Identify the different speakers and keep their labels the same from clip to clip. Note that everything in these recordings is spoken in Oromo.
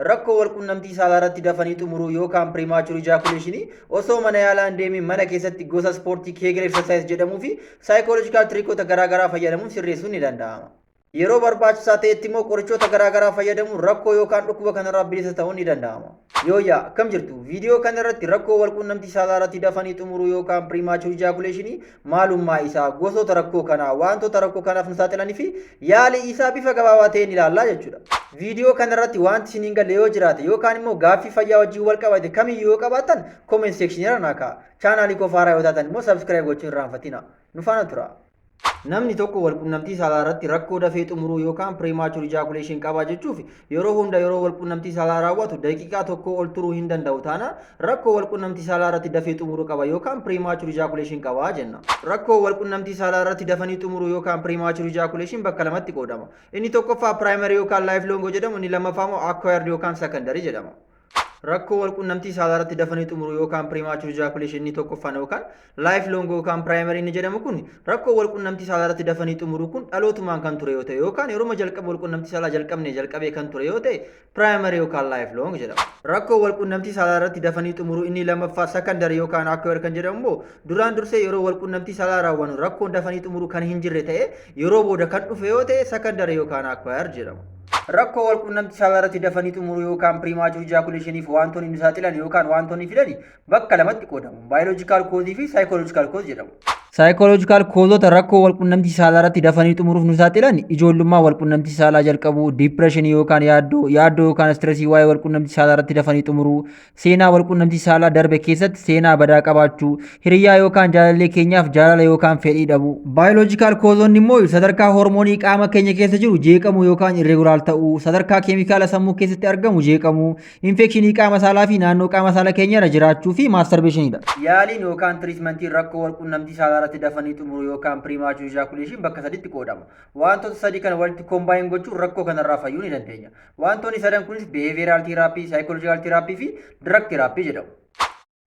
Speaker 1: Rakkoo walqunnamtii saalaarratti dafanii xumuruu yookaan premature ejaculation osoo mana yaalaa hin deemin mana keessatti gosa ispoortii Kegel exercise jedhamuu fi psychological trickota garaagaraa fayyadamuun sirreessuun ni danda'ama. Yeroo barbaachisaa ta'etti immoo qorichoota garaagaraa fayyadamuun rakkoo yookaan dhukkuba kanarraa bilisa ta'uun ni danda'ama. Yooyyaa akkam jirtu? Viidiyoo kanarratti rakkoo walqunnamtii saalaarratti dafanii xumuruu yookaan premature ejaculation maalummaa isaa, gosoota rakkoo kanaa, wantoota rakkoo kanaaf nu saaxilanii fi yaalii isaa bifa gabaabaa ta'een ilaallaa jechuudha. Viidiyoo kanarratti wanti isin hin galle yoo jiraate yookaan immoo gaaffii fayyaa wajjin wal qabate kamiyyuu yoo qabaattan comment section irra naa ka'a. Chaanaalii koo faaraa yoo taatan immoo subscribe gochuun irraa hin fatina. Nu faana tura. Namni tokko walqunnamtii saalaa irratti rakkoo dafee xumuruu yookaan premature ejaculation qaba jechuuf Yeroo hunda yeroo walqunnamtii saalaa raawwatu daqiiqaa tokkoo ol turuu hin danda'u taana rakkoo walqunnamtii saalaa irratti dafee xumuruu qaba yookaan premature ejaculation qaba jenna. Rakkoo walqunnamtii saalaa irratti dafanii xumuruu yookaan premature ejaculation bakka lamatti qoodama. Inni tokkoffaa primary yookaan lifelong jedhamu inni lammaffaa immoo acquired yookaan secondary jedhama. Rakkoo walqunnamtii saalaa irratti dafanii xumuruu yookaan premature ejaculation inni tokkoffaan yookaan life long yookaan primary inni jedhamu kun rakkoo walqunnamtii saalaa irratti dafanii xumuruu kun dhalootumaan kan ture yoo ta'e yookaan yeroo jalqaba walqunnamtii saalaa jalqabne jalqabee kan ture yoo ta'e primary yookaan life long jedhama. Rakkoo walqunnamtii saalaa irratti dafanii xumuruu inni lammaffaa secondary yookaan acquired kan jedhamu immoo duraan dursee yeroo walqunnamtii saalaa raawwannu rakkoon dafanii xumuruu kan hin jirre ta'e yeroo booda kan dhufe yoo ta'e secondary yookaan acquired jedhama. Rakkoo walqunnamtii saalaa irratti dafanii xumuruu yookaan piriimaachur ijaakuleeshiniif waantonni nu saaxilan yookaan waantonni fidan bakka lamatti qoodamu. Baayoloojikaal koozii fi saayikooloojikaal koozii jedhamu. Saayikooloojikaal koozota rakkoo walqunnamtii saalaa irratti dafanii xumuruuf nu saaxilan ijoollummaa walqunnamtii saalaa jalqabuu, diipireeshinii yookaan yaaddoo, yaaddoo yookaan istiresii waa'ee walqunnamtii saalaa irratti dafanii xumuruu, Seenaa walqunnamtii saalaa darbe keessatti seenaa badaa qabaachuu, hiriyyaa yookaan jaalallee keenyaaf jaalala yookaan fedhii dhabuu. Baayoloojikaal koozonni immoo sadarkaa hormoonii qaama keenya keessa jiru jeeqamuu yookaan irreegulaal ta'uu, sadarkaa keemikaala sammuu keessatti argamu jeeqamuu, infekshinii qaama saalaa fi naannoo qaama saala keenya irra jiraachuu fi maastarbeeshiniidha. Yaaliin yookaan tiriitmentiin rakkoo walqunnamtii saalaa irratti dafanii xumuruu yookaan piriimaachuu ijaakuleeshin bakka sadiitti qoodama. Wantoota sadii kana walitti kombaayin gochuun rakkoo kanarraa fayyuu ni dandeenya. Wantoonni sadan kunis behavioral therapy, psychological therapy fi drug therapy jedhamu.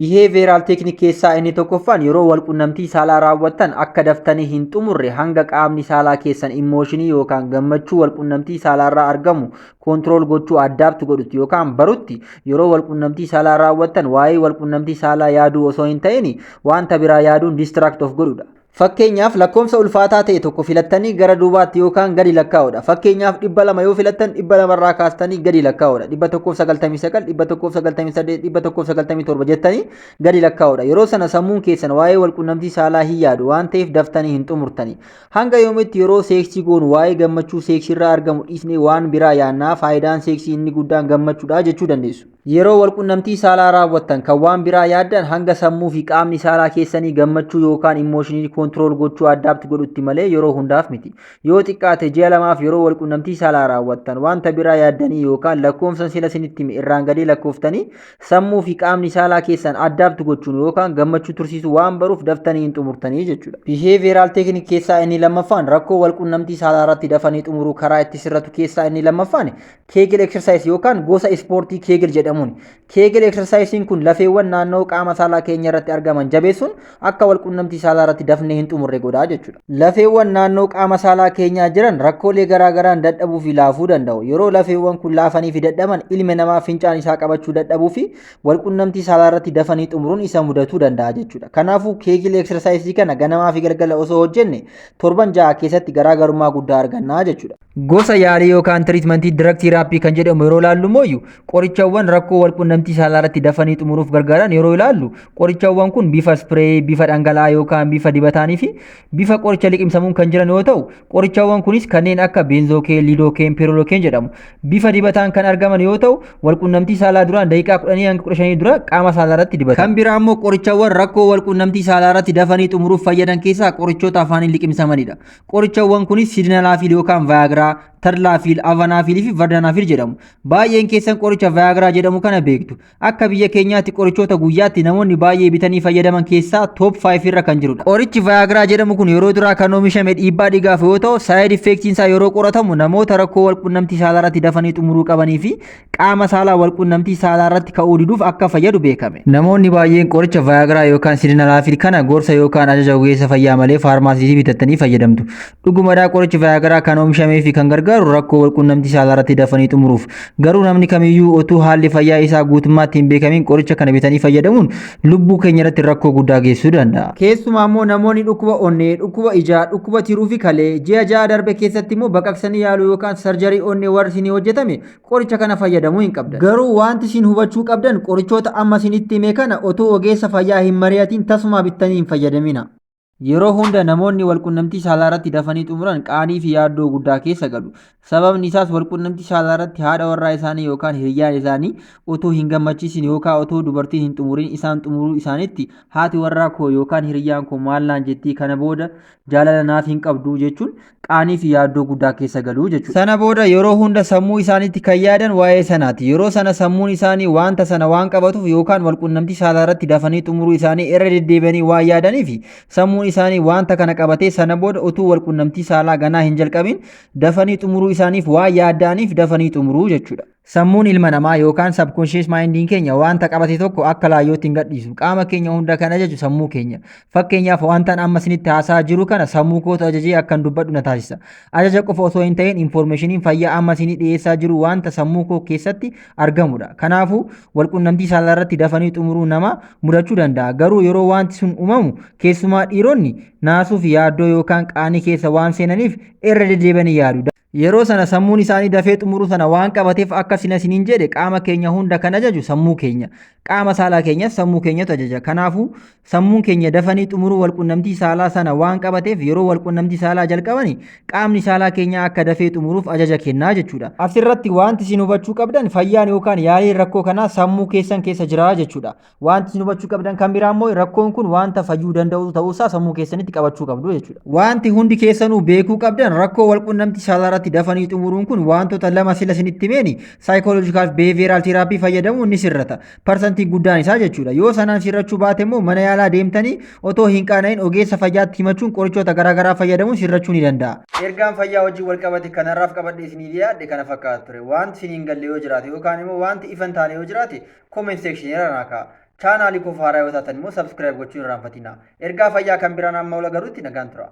Speaker 1: Behavioral technique keessaa inni tokkoffaan yeroo walqunnamtii saalaa raawwattan akka daftanii hin xumurre hanga qaamni saalaa keessan immooshinii yookaan gammachuu walqunnamtii saalaarraa argamu koontirool gochuu addaabtu godhutti yookaan barutti yeroo walqunnamtii saalaa raawwattan waa'ee walqunnamtii saalaa yaaduu osoo hin ta'in wanta biraa yaaduun distract of godhudha. Fakkeenyaaf lakkoofsa ulfaataa ta'e tokko filattanii gara duubaatti yookaan gadi lakkaa'uudha. Fakkeenyaaf dhibba lama yoo filattan dhibba lamarraa kaastanii gadi lakkaa'uudha. Dhibba tokkoof sagaltamii sagal, dhibba tokkoof sagaltamii saddeet, dhibba tokkoof sagaltamii torba jettanii gadi lakkaa'uudha. Yeroo sana sammuun keessan waa'ee walqunnamtii saalaa hin yaadu waan ta'eef daftanii hin xumurtanii. Hanga yoomitti yeroo seeksii goonu waa'ee gammachuu seeksiirraa argamu dhiisnee waan biraa yaannaa faayidaan seeksii inni guddaan gammachuudha jechuu dandeessu. Yeroo walqunnamtii saalaa raawwattan kan waan biraa yaaddan hanga sammuu fi qaamni saalaa keessanii gammachuu yookaan immooshinii koontirool gochuu addaapti godhutti malee yeroo hundaaf miti. Yoo xiqqaate ji'a lamaaf yeroo walqunnamtii saalaa raawwattan wanta biraa yaaddanii yookaan lakkoofsan sila sinitti hime irraan gadee lakkooftanii sammuu fi qaamni saalaa keessan addaapti gochuun yookaan gammachuu tursiisuu waan baruuf daftanii hin xumurtanii jechuudha. Biheeviyeeraal teeknik keessaa inni lammaffaan rakkoo walqunnamtii saalaa irratti dafanii xumuruu karaa itti sirratu keessaa inni lammaffaan keegil eksarsaayis yookaan gosa ispoortii keegil jedhamuun keegil eksarsaayisiin kun lafeewwan naannoo qaama saalaa keenya irratti argaman jabeessuun akka walqunnamtii saalaa irratti dafnee hin xumurre godhaa jechuudha. Lafeewwan naannoo qaama saalaa keenyaa jiran rakkoolee garaagaraan dadhabuu fi laafuu danda'u. Yeroo lafeewwan kun laafanii fi dadhaban ilmi namaa fincaan isaa qabachuu dadhabuu fi walqunnamtii saalaa irratti dafanii xumuruun isa mudatuu danda'a jechuudha. Kanaafuu keegil eksarsaayisii kana ganamaa fi galgala osoo hojjenne torban ja'a keessatti garaagarummaa guddaa argannaa jechuudha. Gosa yaalii yookaan tiriitmentii dirag tiiraappii kan jedhamu yeroo ilaallu mooyyu qorichawwan rakkoo walqunnamtii saalaa irratti dafanii xumuruuf gargaaran yeroo ilaallu qorichawwan kun bifa ispireeyii, bifa dhangala'aa yookaan bifa dibataanii fi bifa qoricha liqimsamuun kan jiran yoo ta'u qorichawwan kunis kanneen akka beenzookeen, liidookeen, peerolokeen jedhamu. Bifa dibataan kan argaman yoo ta'u walqunnamtii saalaa duraan daqiiqaa 10 hanga 15 dura qaama saalaa irratti dibatamu. Kan biraa immoo qorichawwan rakkoo walqunnamtii saalaa irratti dafanii xumuruuf fayyadan keessaa qorichoota afaaniin liqimsamanidha. Qorichawwan kunis sidinalaafiil yookaan vaayagiraa, tarlaafiil, avanaafiilii fi vardanaafiil jedhamu. Baay'een keessan qoricha vaayagiraa jedhamu kana beektu. Akka biyya keenyaatti qorichoota guyyaatti namoonni baay'ee bitanii fayyadaman keessaa top 5 irra kan jirudha. Qorichi vaayagiraa jedhamu kun yeroo duraa kan oomishame dhiibbaa dhiigaaf yoo ta'u, saayid effeektiin isaa yeroo qoratamu namoota rakkoo walqunnamtii saalaa irratti dafanii xumuruu qabanii fi qaama saalaa walqunnamtii saalaa irratti ka'uu diduuf akka fayyadu beekame. Namoonni baay'een qoricha Viagra yookaan Sildenafil kana gorsa yookaan ajaja ogeessa fayyaa malee faarmaasiitii bitattanii fayyadamtu. Dhugumadhaa qorichi Viagra kan oomishamee fi kan gargaaru rakkoo walqunnamtii saalaa irratti dafanii xumuruuf. Garuu namni kamiyyuu otuu haalli fayyaa isaa guutummaatti hin beekamin qoricha kana bitanii fayyadamuun lubbuu keenya irratti rakkoo guddaa geessisuu danda'a. Keessumaa immoo namoonni dhukkuba onnee, dhukkuba ijaa, dhukkuba tiruu fi kalee ji'a ja'a darbe keessatti immoo baqaqsanii yaaluu yookaan sarjarii onnee warri isinii hojjetame qoricha kana fayyadamuu hin qabdan. Garuu wanti isin hubachuu qabdan qorichoota amma isinitti hime kana otoo ogeessa fayyaa hin mari'atiin tasumaa bittanii hin fayyadamina. Yeroo hunda namoonni walqunnamtii saalaa irratti dafanii xumuran qaanii fi yaaddoo guddaa keessa galu. Sababni isaas walqunnamtii saalaa irratti haadha warraa isaanii yookaan hiriyyaan isaanii otoo hin gammachiisin yookaan otoo dubartiin hin xumurin isaan xumuruu isaanitti haati warraa koo yookaan hiriyyaan koo maal naan jettii kana booda jaalala naaf hin qabdu jechuun qaanii fi yaaddoo guddaa keessa galu jechuudha. Sana booda yeroo hunda sammuu isaaniitti kan yaadan waa'ee sanaati. Yeroo sana sammuun isaanii wanta sana waan qabatuuf yookaan walqunnamtii saalaa irratti dafanii xumuruu isaanii irra deddeebi'anii waan yaadaniif sammuun isaanii wanta kana qabatee sana booda utuu walqunnamtii saalaa ganaa hin jalqabin dafanii xumuruu isaaniif waan yaadda'aniif dafanii xumuruu jechuudha. Sammuun ilma namaa yookaan sabkonshees maayindiin keenya wanta qabate tokko akka laayyootti hin gadhiisu. Qaama keenya hunda kan ajaju sammuu keenya. Fakkeenyaaf wantan amma isinitti haasa'aa jiru kana sammuu kootu ajajee akkan dubbadhu na taasisa. Ajaja qofa osoo hin ta'in infoormeeshiniin fayyaa amma isinii dhiyeessaa jiru wanta sammuu koo keessatti argamudha. Kanaafuu walqunnamtii saalaa irratti dafanii xumuruu nama mudachuu danda'a. Garuu yeroo wanti sun uumamu keessumaa dhiironni naasuu fi yaaddoo yookaan qaanii keessa waan seenaniif irra deddeebi'anii yaadu. Yeroo sana sammuun isaanii dafee xumuruu sana waan qabateef akka sina isiniin jedhe qaama keenya hunda kan ajaju sammuu keenya. Qaama saalaa keenyas sammuu keenyatu ajaja. Kanaafuu sammuun keenya dafanii xumuruu walqunnamtii saalaa sana waan qabateef yeroo walqunnamtii saalaa jalqabani qaamni saalaa keenyaa akka dafee xumuruuf ajaja kennaa jechuudha. Asirratti wanti isin hubachuu qabdan fayyaan yookaan yaaliin rakkoo kanaa sammuu keessan keessa jira jechuudha. Wanti isin hubachuu qabdan kan biraa immoo rakkoon kun wanta fayyuu danda'u ta'uusaa sammuu keessanitti qabachuu qabdu jechuudha. Wanti hundi keessanuu beekuu qabdan rakkoo walqunnamtii saalaa irratti dafanii xumuruun kun wantoota lama sila isinitti himeeni saayikooloojikaal fi beeviyeeraal teeraapii fayyadamuun ni sirrata. Parsantii guddaan isaa jechuudha. Yoo sanaan sirrachuu baate immoo mana yaalaa deemtanii otoo hin qaana'in ogeessa fayyaatti himachuun qorichoota garaagaraa fayyadamuun sirrachuu ni danda'a. Ergaan fayyaa wajjin wal qabate kanarraaf qabadhee isiniif yaadde kana fakkaata ture. Wanti isin hin galle yoo jiraate yookaan immoo wanti ifa hin taane yoo jiraate comment section irra naa ka'a. Chaanaalii koof haaraa yoo taatan immoo subscribe gochuun irraanfatina. Ergaa fayyaa kan biraan amma ol agarutti nagaan tura.